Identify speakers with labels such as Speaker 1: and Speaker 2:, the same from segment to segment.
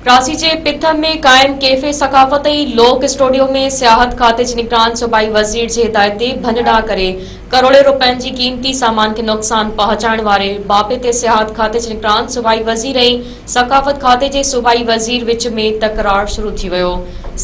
Speaker 1: ڪراچي جي پٿم ۾ قائم ڪيفي ثقافت ۽ لوڪ اسٽوڊيو ۾ سياحت کاتي جي نگران صوبائي وزير جي هدايت تي ڀڃ ڊاهه ڪري ڪروڙين روپين جي قيمتي سامان کي نقصان پهچائڻ واري باپي تي سياحت کاتي جي نگران صوبائي وزير ۽ ثقافت کاتي جي صوبائي وزير وچ ۾ تڪرار شروع ٿي ويو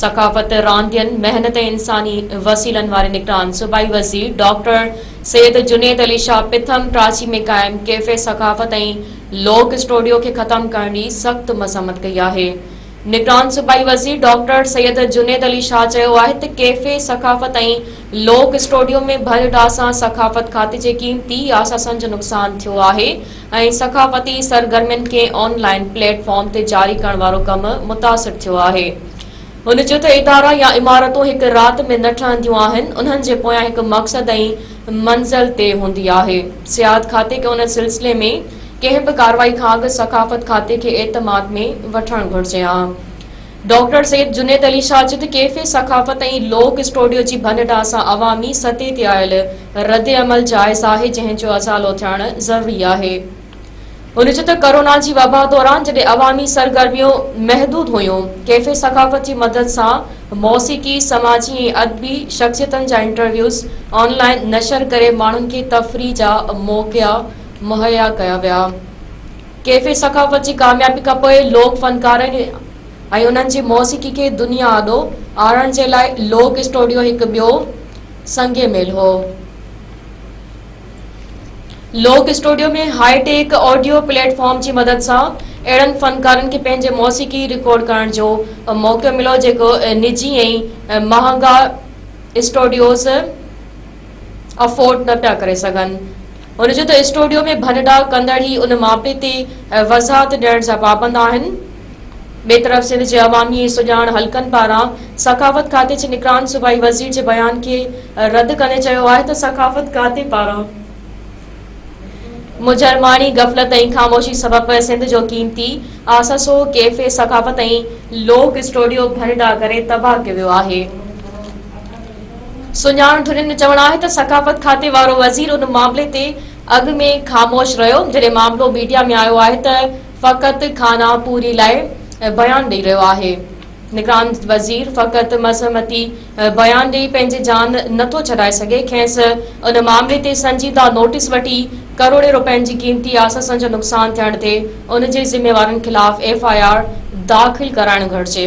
Speaker 1: ثقافت راندين محنت ۽ انساني وسيلن واري نگران صوبائي وزير ڊاڪٽر سيد جنيد علي شاهه پٿم ڪراچي ۾ قائم ڪيفي ثقافت ۽ لوڪ اسٽوڊيو کي ختم ڪرڻ جي سخت مذمت ڪئي آهي. نگران صوبائي وزير ڊاڪٽر سيد جنيد علي شاهه چيو آهي ته ڪيفي ثقافت ۽ لوڪ اسٽوڊيو ۾ ڀر ڊاهه سان ثقافت کاتي جي قيمتي اثاثن جو نقصان ٿيو آهي ۽ ثقافتي سرگرمين کي آن لائين پليٽ فارم تي جاري ڪرڻ وارو ڪم متاثر ٿيو آهي. هن چيو ته ادارا يا عمارتون هڪ رات ۾ نه ٺهنديون آهن، انهن جي پويان هڪ مقصد ۽ منزل تي هوندي آهي. سياحت کاتي کي ان سلسلي ۾ ڪنهن به ڪارروائي کان اڳ ثقافت کاتي کي اعتماد ۾ وٺڻ گهرجي ها. ڊاڪٽر سيد جنيد علي شاجد ڪيفي ثقافت ۽ لوڪ اسٽوڊيو جي ڀڃ ڊاهه سان عوامي سطح تي آيل رد عمل جائز آهي جنهن جو ازالو ٿيڻ ضروري آهي. هن چيو ته ڪورونا جي وبا دوران جڏهن عوامي سرگرميون محدود هيون، ڪيفي ثقافت جي مدد سان موسيقي، سماجي ۽ ادبي شخصيتن جا انٽرويوز آن لائين نشر ڪري ماڻهن کي تفريح جا موقعا مهيا ڪيا ويا. ڪيفي ثقافت جي ڪاميابي کان پوء لوڪ فنڪارن ۽ انهن جي موسيقي کي دنيا آڏو آڻڻ جي لاء لوڪ اسٽوڊيو هڪ ٻيو سنگ ميل هو. Lok studio ۾ high tech audio platform جي مدد سان اهڙن فنڪارن کي پنهنجي موسيقي رڪارڊ ڪرڻ جو موقعو مليو جيڪو نجي ۽ مهانگا اسٽوڊيوز افورڊ نه پيا ڪري سگهن هن چيو ته اسٽوڊيو ۾ ڀنڊا ڪندڙ ئي ان ماپي تي وضاحت ڏيڻ جا پابند آهن ٻئي طرف سنڌ جي عوامي ۽ سڄاڻ حلقن پاران ثقافت کاتي جي نگران صوبائي وزير جي بيان کي رد ڪندي چيو آهي ته ثقافت کاتي پاران مجرماڻي غفلت ۽ خاموشي سبب سنڌ جو قيمتي آسسو ڪيفي ثقافت ۽ لوڪ اسٽوڊيو ڀنڊا ڪري تباهه ڪيو ويو آهي سڃاڻ ڌرين جو چوڻ آهي ته ثقافت کاتي وارو وزير ان معاملي تي اڳ ۾ خاموش رهيو جڏهن معاملو ميڊيا ۾ آيو آهي ته فقط خانه پوري لاء بيان ڏئي رهيو آهي، نگران وزير فقط مزهمتي بيان ڏئي پنهنجي جان نٿو ڇڏائي سگهي، کينس ان معاملي تي سنجيده نوٽيس وٺي ڪروڙين رپين جي قيمتي آسسن جو نقصان ٿيڻ تي ان جي ذميوارن خلاف ايف آء آر داخل ڪرائڻ گهرجي.